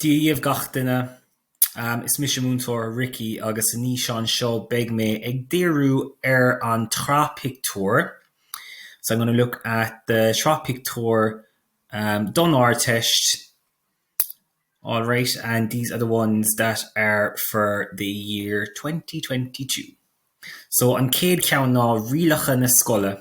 Dia dhiabh gach duine. Is mise Múinteoir Ricky agus san fhíseán seo beidh mé ag díriú ar an tsraith pictiúr So I'm gonna look at the sraith pictiúr don Ardteist alright and these are the ones that are for the year twenty twenty two. So an chéad cheann ná Rialacha na Scoile.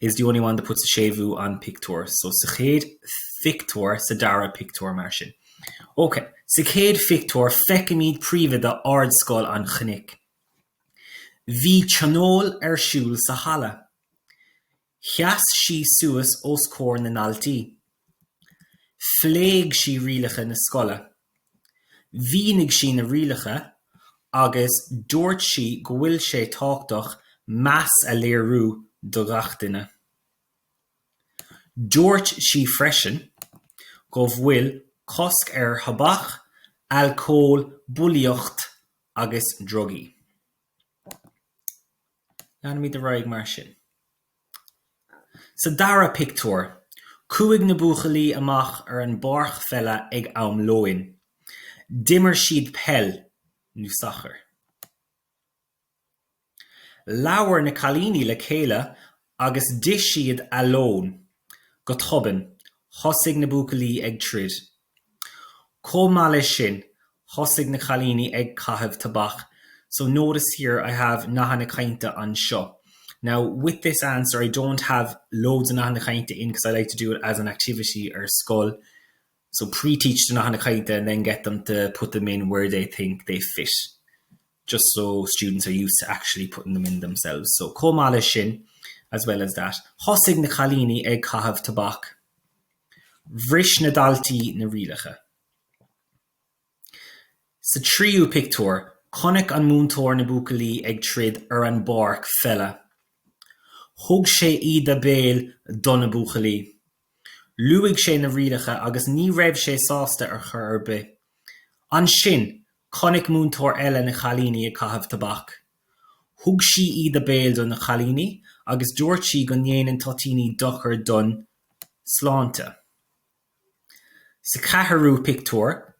is the only one that puts a séimhiú on pictiúr so sa chéad phictiúr sa dara pictiúr mar sin ok sa chéad phictiúr feicimid príomhoide Ardscoil an Chnoic bhí tionól ar siúl sa halla sheas sí suas os comhair na ndaltaí phléigh sí rialacha na scoile Mhínigh sí na rialacha agus dúirt sí go bhfuil sé tábhachtach meas a léiriú do gach duine. Dúirt sí freisin go bhfuil cosc ar thobac, alcól, bulaíocht agus drugaí. Leanfaimid ar aghaidh mar sin. Sa dara pictiúr, chuaigh na buachaillí amach ar an bpáirc pheile ag am lóin. D'imir siad peil, nó sacar. Labhair na cailíní le chéile agus d'ith siad a lón. Go tobann, thosaigh na buachaillí ag troid. Chomh maith leis sin, thosaigh na cailíní ag caitheamh tobac So notice here I have nathanna cainte anseo Now with this answer I don't have loads of nathanna cainte in because I like to do it as an activity ar scoil So pre-teach the nathanna cainte and then get them to put them in where they think they fit just so students are used to actually putting them in themselves So chomh maith leis sin As well as that, thosaigh na cailíní ag caitheamh tobac. Bhris na daltaí na rialacha. Sa tríú pictiúr, chonaic an múinteoir na buachaillí ag troid ar an bpáirc pheile. Thug sé íde béil do na buachaillí. Luaigh sé na rialacha agus ní raibh sé sásta ar chor ar bith. Ansin, chonaic múinteoir eile na cailíní ag caitheamh tobac. Thug sí íde béil do na cailíní agus dúirt sí go ndéanann toitíní dochar don tsláinte. Sa ceathrú pictiúr,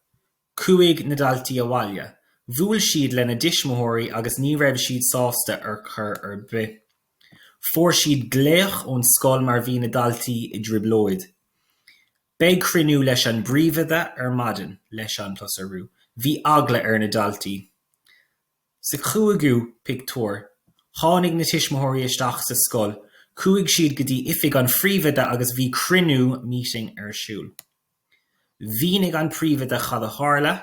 chuaigh na daltaí abhaile. Bhuail siad lena dtuismitheoirí agus ní raibh siad sásta ar chor ar bith. Fuair siad glaoch ón scoil mar bhí na daltaí i dtrioblóid. Beidh cruinniú leis an bpríomhoide ar maidin leis an plus urú. Bhí eagla ar na daltaí. Sa cúigiú pictiúr, tháinig na tuismitheoirí isteach sa scoil, chuaigh siad go dtí oifig an phríomhoide agus bhí cruinniú, meeting, ar siúl. Mhínigh an príomhoide cad a tharla,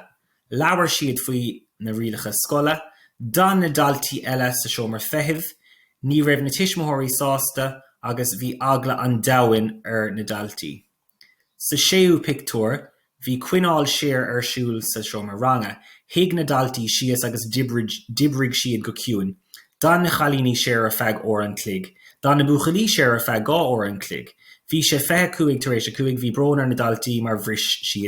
labhair siad faoi na rialacha scoile, d'fhan na daltaí eile sa seomra feithimh, ní raibh na tuismitheoirí sásta agus bhí eagla an domhain ar na daltaí. Sa séú pictiúr, bhí coinneáil siar ar siúl sa seomra ranga. Shuigh na daltaí síos agus d'oibrigh siad go ciúin. D'fhan na cailíní siar ar feadh uair an chloig. D'fhan na buachaillí siar ar feadh dhá uair an chloig. Bhí sé fiche cúig tar éis a cúig. Bhí brón ar na daltaí mar bhris siad na.